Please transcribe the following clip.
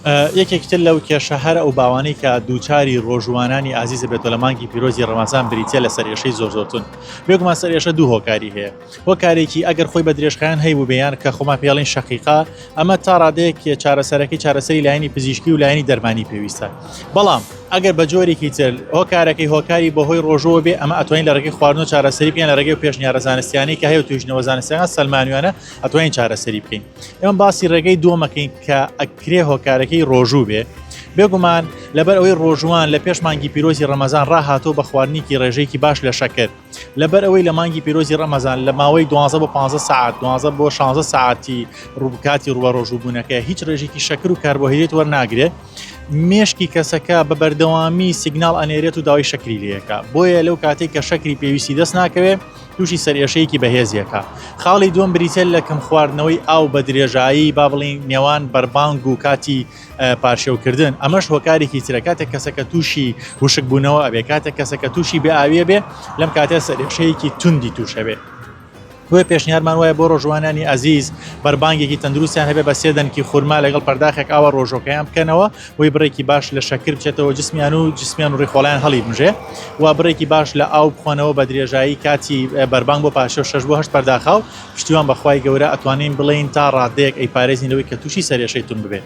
یەکێک تر لەو کێشە هەر ئەو باوانەی کە دووچاری ڕۆژووانانی ئازیز دەبێت و لە مانگی پیرۆزی ڕەمەزان بریتیە لە سەرئێشەی زۆر زۆر تون بێگومان سەرئێشە دوو هۆکاری هەیە هۆکارێکی ئەگەر خۆی بە درێژخایەن هەیبوو بێیان کە خۆمان پێڵین شقیقا ئەمە تا ڕادەیەک چارەسەرەکەی چارەسەری لایەنی پزیشکی و لایەنی دەرمانی پێویستە بەڵام ئەگەر بە جۆرێکی تر هۆکارەکەی هۆکاری بەهۆی ڕۆژەوە بێ ئەمە ئەتوانین لە ڕێگەی خواردن و چارەسەری بیان لە ڕێگەی پێشنیارە زانستیانی کە هەیە توژنەوە زانستیان سەلمانویانە ئەتوانین چارەسەری بکەین ئێمە باسی ڕێگەی دووەمەکەین کە ئەکرێ هۆکارەکەی ڕۆژوو بێ بێگومان لەبەر ئەوەی ڕۆژوان لە پێش مانگی پیرۆزی ڕەمەزان ڕاهاتۆ بە خواردنیکی ڕێژێکی باش لە شەکرد لەبەر ئەوەی لە مانگی پیرۆزی ڕەمەزان لە ماوەی 12 بۆ 15 ساعت 12 بۆ 16 ساعتی ڕووبکاتی ڕووە ڕۆژوبوونەکە هیچ ڕێژێکی شەکر و کاربۆهیدێت وەرناگرێت مێشکی کەسەکە بە بەردەوامی سیگنال ئەنێرێت و داوای شەکری لەکە بۆیە لەو کاتێک کە شەکری پێویستی دەست ناکەوێت تووشی سەرئێشەیەکی بەهێزی ئەکا. خاڵی دووەم بریتیە لە کەم خواردنەوەی ئاو بە درێژایی با بڵێین نێوان بەربانگ و کاتی پارشێو کردن ئەمەش هۆکارێکی ترە کاتێک کەسەکە تووشی وشک بوونەوە ئەبێ کاتێک کەسەکە تووشی بێ ئاویە بێ لەم کاتێ سەرێشەیەکی توندی تووشەبێ. بۆیە پێشنیارمان وایە بۆ ڕۆژوانانی ئازیز بەربانگێکی تەندروستیان هەبێ بە سێ دەنکی خورما لەگەڵ پەرداخێک ئاوە ڕۆژۆکەیان بکەنەوە بۆی بڕێکی باش لە شەکر بچێتەوە جسمیان و جسمیان و ڕیخۆڵیان هەڵی بژێ و بڕێکی باش لە ئاو بخۆنەوە بە درێژایی کاتی بەربانگ بۆ پاشە شش بۆ هەشت پەرداخا و پشتیوان بەخوای گەورە ئەتوانین بڵێین تا ڕادەیەک ئەی پارێزین لەوەی کە تووشی سەرێشەی تون ببێت.